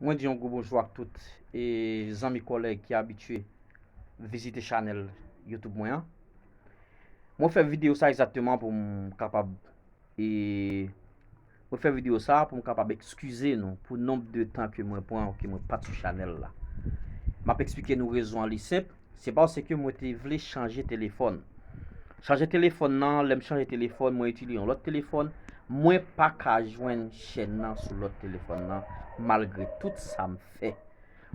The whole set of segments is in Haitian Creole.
Mwen di yon gwo bonjou ak tout e zanmi kòlèg ki abitye vizite chanèl YouTube mwen an. Mwen fè videyo sa egzakteman pou m kapab e mwen fè videyo sa pou m kapab ekskize nou pou nonb de tan ke mwen pran ke mwen pat sou chanèl la. Map eksplike nou rezon an li senp. Se paske mwen te vle chanje telefòn. Chanje telefòn nan, lè m chanje telefòn, mwen itilize yon lòt telefòn, mwen pa ka jwenn chèn nan sou lòt telefòn nan malgre tout sa m fè.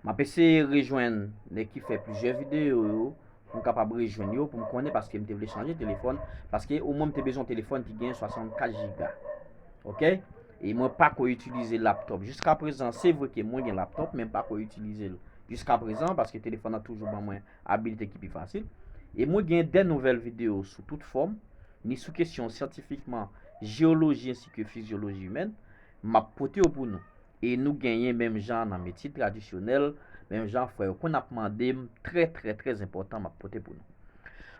M ap eseye rejwenn nèg ki fè plizyè videyo yo pou m kapab rejwenn yo pou m konnen paske m te vle chanje telefòn paske omwen m te bezwen yon telefòn ki gen 64 jiga. Ok. E mwen pa ko itilize laptop. Jiska prezan, se vre ke mwen gen laptop, men pa ko itilize l. Jiska prezan, paske telefon nan toujou ban mwen abilite ki pi fasil. E mwen gen de nouvèl video sou tout fòm, ni sou kesyon syantifikman, jeoloji ensi ke fizyoloji imèn, m ap pote yo pou nou. E nou genyen menm jan nan metye tradisyonèl, menm jan frè yo konn ap mande m, trè trè trè enpòtan m ap pote pou nou.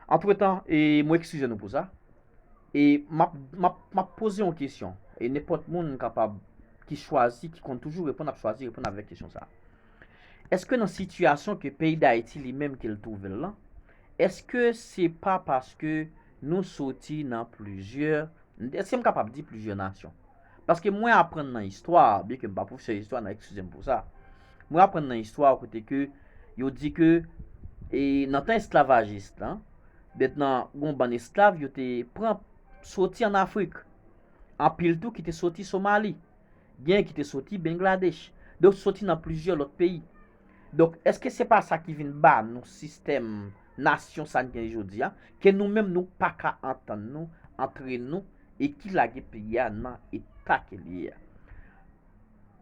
Antretan, e mwen ekskize nou pou sa. E map map map poze yon kesyon e nenpòt moun kapab ki chwazi ki konn toujou reponn ap chwazi reponn avèk kesyon sa. Eske nan sitiyasyon ke peyi Dayiti li menm ke l twouve l lan, eske se pa paske nou soti nan plizyè, eske m kapab di plizyè nasyon? Paske mwen aprann nan istwa, byen ke m pa pwofesè istwa nan ekskize m pou sa, mwen aprann nan istwa kote ke yo di ke e nan tan esklavajis lan, Bèt nan yon bann esklav yo te pran soti ann Afrik. Anpil tou ki te soti Somali. Genyen ki te soti Bengladech. Donk soti nan plizyè lòt peyi. Donk èske se pa sa ki vin ba nou sistèm nasyon sa n gen jodi a, ke nou menm nou pa ka antann nou antre nou e ki lage peyi a nan eta ke l ye a.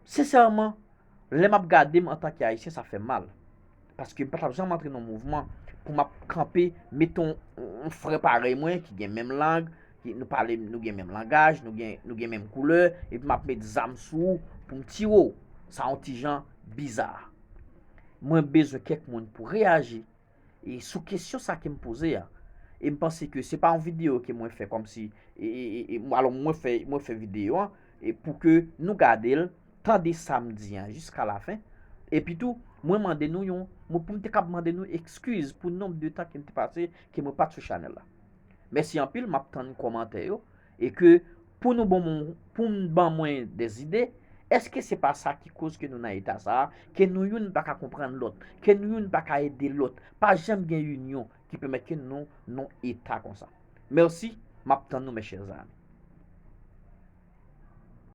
Sensèman, lè m ap gade m antanke Ayisyen sa fè m mal. Paske m pa t ap janm antre nan yon mouvman pou m ap kanpe, mete yon frè parèy mwen ki gen menm lang, nou pale, nou gen menm langaj, nou gen menm koulè, epi m ap mete zam sou ou pou m tire ou. Sa yon ti jan biza. Mwen bezwen kèk moun pou reyaji e sou kesyon sa ke m poze a. E m panse ke se pa yon videyo ke mwen fè kòmsi, e, e, e, alò mwen fè, mwen fè videyo an. E pou ke nou gade l, tande sa m di an jiska lafen. Epi tou, mwen mande nou yon, mwen pou m te kab mande nou ekskiz pou nonb de tan ke m te pase ke mwen pa t sou chanèl la. Mèsi anpil, m ap tann kòmantè yo. E ke pou nou bon m, pou m ban mwen de zide, èske se pa sa ki koz ke nou nan eta sa a, ke nou youn pa ka konprann lòt, ke nou youn pa ka ede lòt, pa janm gen inyon, ki pèmèt ke nou non eta konsa. Merci, map tann nou mes chers amis.